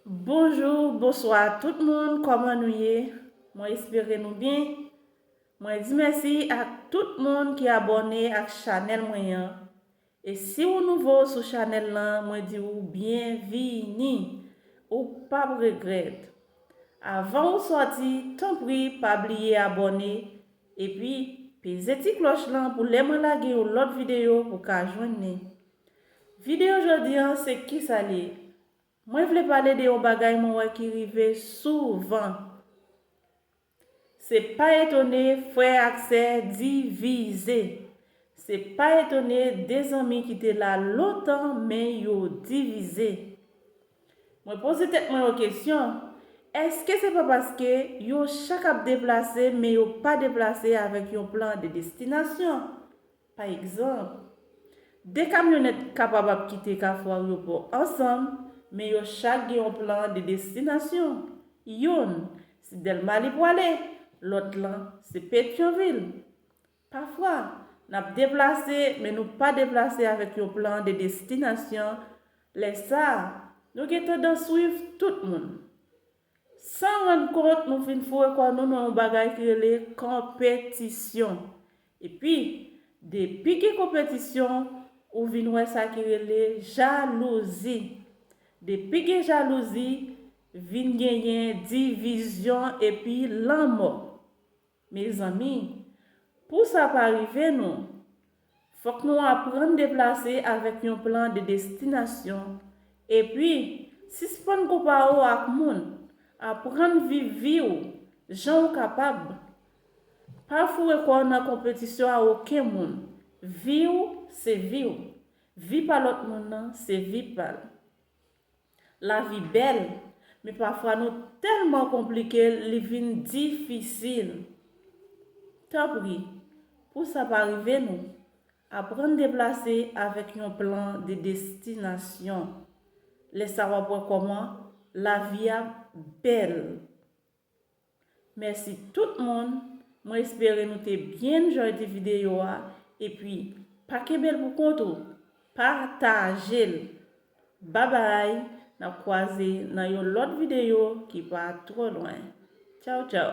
Bonjou bonswa tout moun kòman nou ye mwen espere nou byen mwen di mèsi ak tout moun ki abòne ak chanèl mwen an e si ou nouvo sou chanèl lan mwen di ou byen vi ni ou pap regrèt avan ou sòti tanpri pa bliye abòne epi peze ti klòch lan pou lè mwen lage yon lòt videyo ou ka jwenn ni. Video jodi an se kisa li ye? Mwen vle pale de yon bagay mwen wè ki rive souvan. Se pa etone frè ak sè divize. Se pa etone 2 zanmi ki te la lontan men yo divize. Mwen poze tèt mwen yon kesyon, èske se pa paske yo chak ap deplase men yo pa deplase avèk yon plan de destinasyon? Pa egzanp, 2 kamyonèt kapab ap kite Kafou Aryopò ansanm, men yo chak gen yon plan de destinasyon, youn, se Dèlma li pwale, lòt lan, se Petyonvil. Pafwa, n ap deplase, men nou pa deplase avèk yon plan de destinasyon, lè sa a, nou gen tandans swiv tout moun. San rann kont, nou fin foure kò nou nan yon bagay ki rele konpetisyon. Epi, depi gen konpetisyon, ou vin wè sa ki rele jalouzi. Depi gen jalouzi, vin genyen divizyon epi lanmò. Mezanmi! Pou sa pa rive nou, fòk nou aprann deplase avèk yon plan de destinasyon. Epi, sispann konpa ou ak moun. Aprann viv vi ou jan ou kapab. Pa foure kò w nan konpetisyon a oken moun. Vi ou se vi ou. Vi pa lòt moun nan se vi pa l. Lavi bèl, men pafwa nou tèlman konplike l li vin difisil. Tanpri, pou sa pa rive nou, aprann deplase avèk yon plan de destinasyon. Lè sa w ap wè kòman lavi a bèl. Mèsi tout moun, mwen espere nou te byen enjoy the video a epi pa kenbel pou kont ou pa ta jel babay nap kwaze nan yon lòt video ki pa twò lwen tchawtchaw.